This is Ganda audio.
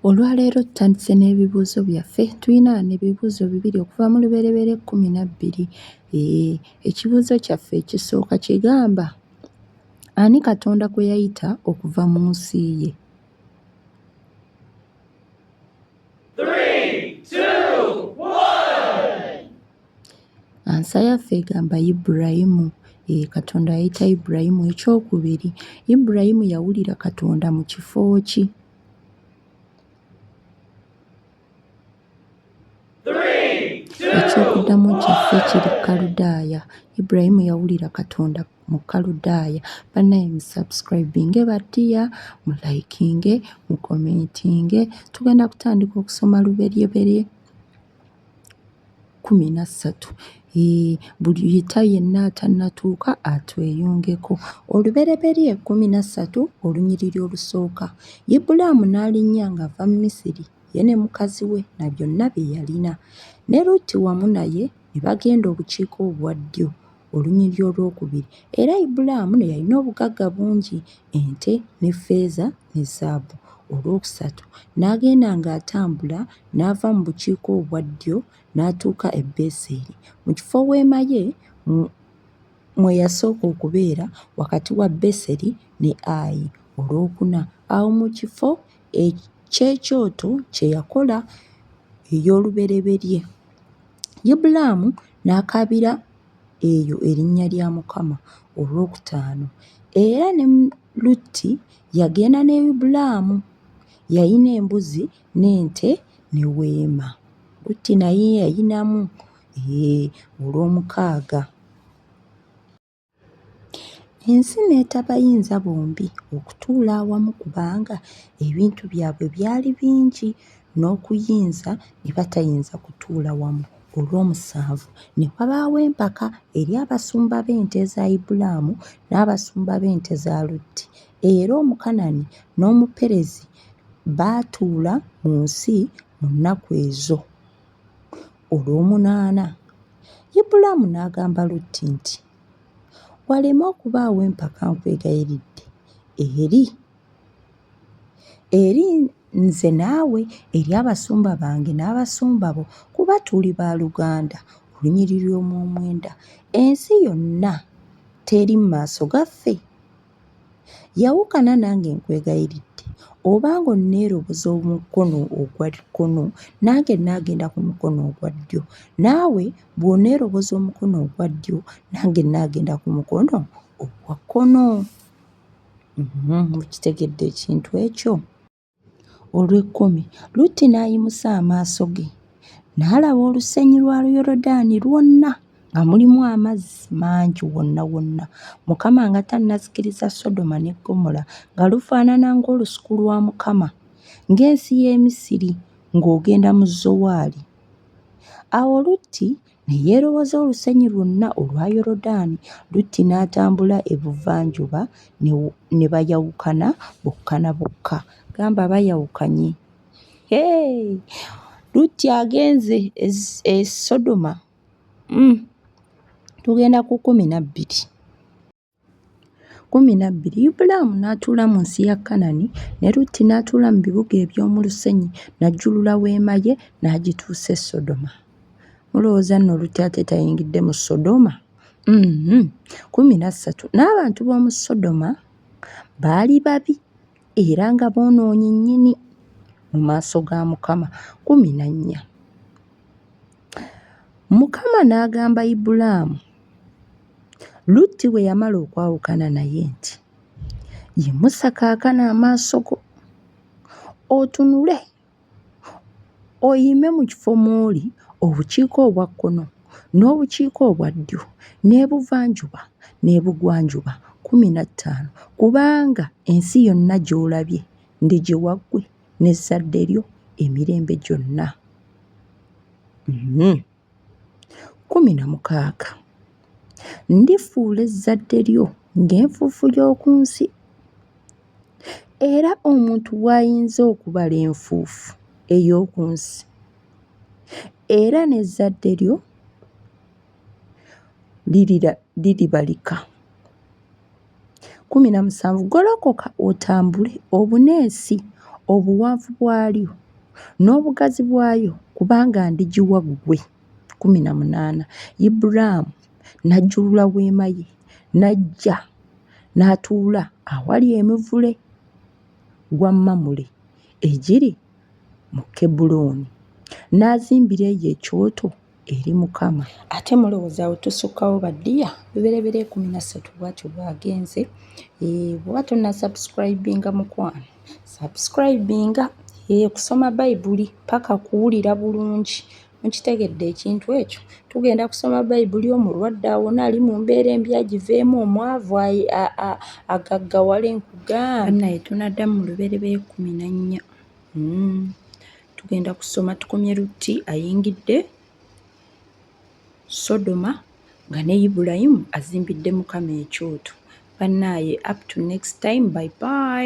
Olwaleero tutandise n'ebibuuzo byaffe. Tulina wano ebibuuzo bibiri okuva mu lubereberye ekkumi na bbiri. Ee, ekibuuzo kyaffe ekisooka kigamba ani Katonda kwe yayita okuva mu nsi ye? Ansa yaffe egamba Ibulayimu. Ee, Katonda yayita Ibulayimu. Eky'okubiri, Ibulayimu yawulira Katonda mu kifo ki? Eky'okuddamu kyaffe kiri Kaludaaya. Ibulayimu yawulira Katonda mu Kaludaaya. Bannaye mu subscribinge battiya, mu likinge, mu commentinge. Tugenda kutandika okusoma luberyeberye. kkumi na ssatu Eeh, buli yita yenna atannatuuka atweyungeko. Olubereberye kkumi na ssatu olunyiriri olusooka Ibulaamu n'alinnya ng'ava mu Misiri, ye ne mukazi we na byonna bye yalina, ne Lutti wamu naye ne bagenda obukiika obwa ddyo. olunyiriri olwokubiri. Era Ibulaamu ne yalina obugagga bungi, ente ne ffeeza ne zaabu. Olwokusatu, n'agenda ng'atambula n'ava mu bukiika obwa ddyo n'atuuka e Beseri, mu kifo weema ye mwe yasooka okubeera, wakati wa Beseri ne Ayi. Olwokuna, awo mu kifo eky'ekyoto kye yakola ey'olubereberye. Ibulaamu n'akaabira eyo erinnya lya Mukama olwokutaano. Era ne Lutti yagenda ne Ibulaamu, yalina embuzi n'ente ne weema. Lutti naye yalinamu, hee, olwomukaaga. Ensi n'etabayinza bombi okutuula awamu kubanga ebintu byabwe byali bingi n'okuyinza ne batayinza kutuula wamu. Olw'omusanvu ne wabaawo empaka eri abasumba b'ente eza Ibulaamu n'abasumba b'ente za Lutti, era Omukanani n'Omuperezi baatuula mu nsi mu nnaku ezo. Olw'omunaana. Ibulaamu n'agamba Lutti nti, Waleme okubaawo empaka nkwegayiridde eri, eri nze naawe, eri abasumba bange n'abasumba bo, kuba tuli ba luganda, olunyiriri omw'omwenda. Ensi yonna teri mu maaso gaffe? Yawukana nange nkwegayiridde obanga onneeroboza omukono ogwa kkono nange naagenda ku mukono ogwa ddyo naawe bw'oneeroboza omukono ogwa ddyo nange naagenda ku mukono ogwa kkono. Mukitegedde ekintu ekyo? Olw'ekkumi, Lutti n'ayimusa amaaso ge, n'alaba olusenyi lwa Yorodaani lwonna nga mulimu amazzi mangi wonna wonna, Mukama nga tannazikiriza Sodoma ne Ggomola, nga lufaanana ng'olusuku lwa Mukama, ng'ensi y'e Misiri, ng'ogenda mu Zowaali. Awo Lutti. ne yeerowoza olusenyi lwonna olwa Yorodaani, Lutti n'atambula ebuvanjuba ne bayawukana bokka na bokka. Gamba bayawukanye. Hee! Lutti agenze e, e Sodoma. Mm. Tugenda ku kkumi na bbiri. Kkumi na bbiri Ibulaamu n'atuula mu nsi ya Kanani, ne Lutti n'atuula mu bibuga eby'omu lusenyi, n'ajjulula weema ye n'agituusa e Sodoma. Mulowooza nno Lutti ate tayingidde mu Sodoma? Mm-hmm. Kkumi na ssatu N'abantu b'omu Sodoma baali babi era nga boonoonyi nnyini mu maaso ga Mukama. Kkumi na nnya. Mukama n'agamba Ibulaamu, Lutti bwe yamala okwawukana naye nti, Yimusa kaakano amaaso go otunule, oyime mu kifo mw'oli obukiika obwa kkono n'obukiika obwa ddyo n'ebuvanjuba n'ebugwanjuba kkumi na ttaano, kubanga ensi yonna gy'olabye ndigiwa ggwe. n'ezzadde lyo emirembe gyonna. Mhm. Kkumi na mukaaga, ndifuula ezzadde lyo ng'enfuufu y'oku nsi, era omuntu w'ayinza okubala enfuufu ey'oku nsi, era n'ezzadde lyo liribalika. kumi na musanvu golokoka otambule obuneesi obuwanvu bwalyo n'obugazi bwayo kubanga ndigiwa ggwe kumi na munaana ibulaamu n'ajjulula weema ye n'ajja n'atuula awali emivule gwa mamule egiri mu kebulooni n'azimbira eyo ekyoto eri mukama ate mulowoza wetusukkawo ba dear biberebera ekumi na ssatu bwatyo bwagenze eh, bwoba tonna subscribinga mukwano subscribinga eh, kusoma bayibuli paka kuwulira bulungi mukitegedde ekintu ekyo tugenda kusoma bayibuli omulwadde awona ali mu mbeera embi agiveemu omwavu agaggawale nkugambe naye tunaddamu mu luberebera ekumi na nnya hmm. tugenda kusoma tukomye lutti ayingidde sodoma nga ne ibulayimu azimbidde mukama ekyoto bannaaye up to next time by by